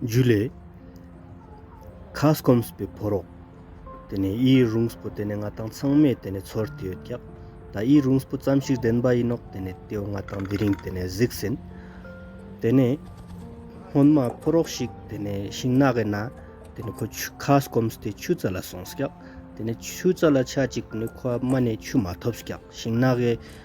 རྒྱུད་ལས། ཁཱ་སྐོམ་སྤོས་ཕོ་རོག། དེ་ནས་ཨི་ཡི་རུང་སྤོ་དེ་ནས་ང་དང་ཚང་མས་དེ་ནས་ཚོར་དེ་ཡོད་ཀྱང། ད་ཨི་ཡི་རུང་སྤོ་ཙམ་ཞིག་བདེན་པ་ཡིན་ནོག་དེ་ནས་དེའོ་ང་དང་དེ་རིང་དེ་ནས་གཟིགས་ཟིན། དེ་ནས། སྔོན་མ་ཕོ་རོག་ཞིག་དེ་ནས་ཤིང་ནགས་གི་ན། དེ་ནས་ཁོ་ཆུ་ཁཱ་སྐོམ་སྟེ་ཆུ་རྩ་ལ་སོང་སྐྱག། དེ་ནས་ཆུ་རྩ་ལ་ཆ་གཅིག་དེ་ནས་ཁོ་ཨ་མ་ནས་ཆུ་མ་ཐོབ་སྐྱག་ཤིང་ནགས་གི།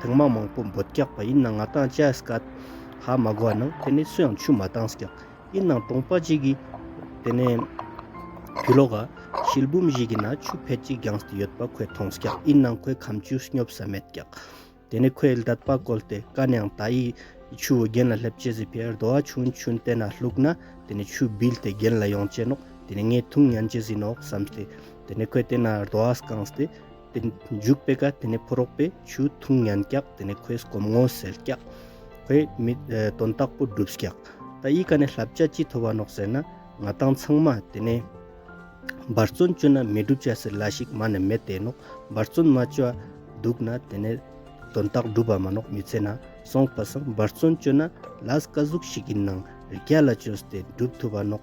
དེང་མ་མང་པོ་འབོད་རྒྱག་པ་ཡིན་ན་ང་དང་བཅས་སྐད་ཧ་མ་གོ་བ་ན་དེ་ནས་སུ་ཡང་ཆུ་མ་བཏང་སྐད་ཡིན་ན་གྲོང་པ་གཅིག་གིས་དེ་ནས་བུ་ལོ་ག་ཤེལ་བུམ་ཞིག་གི་ན་ཆུ་ཕལ་གཅིག་རྒྱང་སྟེ་ཡོད་པ་ཁོས་མཐོང་སྐད་ཡིན་ན་ཁོས་ཁམ་ཆུ་སྙོབ་ས་མེད་སྐད་དེ་ནས་ཁོས་ལྡད་པ་བཀོལ་ཏེ་ཀ་ནེའང་ད་ཡིས་ཆུ་བོ་རྒྱན་ལ་སླེབས་ཆེད་ཟི་ཕལ་རྡོ་བ་ཆུང་ཆུང་བསྟན་ན་བླུགས་ན་དེ་ནས་ཆུ་སྦིལ་ཏེ་རྒྱན་ལ་ཡོང་བྱེད་ནོག་དེ་ནས་ངས་ཐུང་ཉན་བྱེད་ཟིན་ནོག་བསམ་སྟེ་དེ་ནས་ཁོས་བསྟན་ན་རྡོ་བ་བསྐངས་སྟེ་དེ་ནས་འཇུག་པའི་སྐད་དེ་ནས་ཕོ་རོག་པས་ཆུ་འཐུང་ཉན་སྐྱག་དེ་ནས་ཁོས་སྐོམ་ངོ་ཟེར་སྐྱག། ཁོས་མི་དོན་རྟགས་པོ་སྒྲུབས་སྐྱག། ད་ཡིད་ག་ནས་ལྷ་བྱ་ཅི་ཐོབ་བ་ནོག་ཟེར་ན་ང་དང་ཚང་མ་དེ་ནས། འབར་བརྩོན་བཅུ་ན་མི་སྒྲུབ་བྱ་ཟེར་ལ་ཞིག་མ་ནས་མེད་དེ་ནོག་འབར་བརྩོན་མ་བཅུ་ཨ་འདུག་ན་དེ་ནས། དོན་རྟགས་སྒྲུབ་བ་མ་ནོག་མི་ཚེ་ན་སོང་བ་སང་འབར་བརྩོན་བཅུ་ན་ལ་སྐ་གཟུགས་ཤིག་གི་ནང་རྒྱ་ལ་བཅོས་ཏེ་སྒྲུབ་ཐུབ་བ་ནོག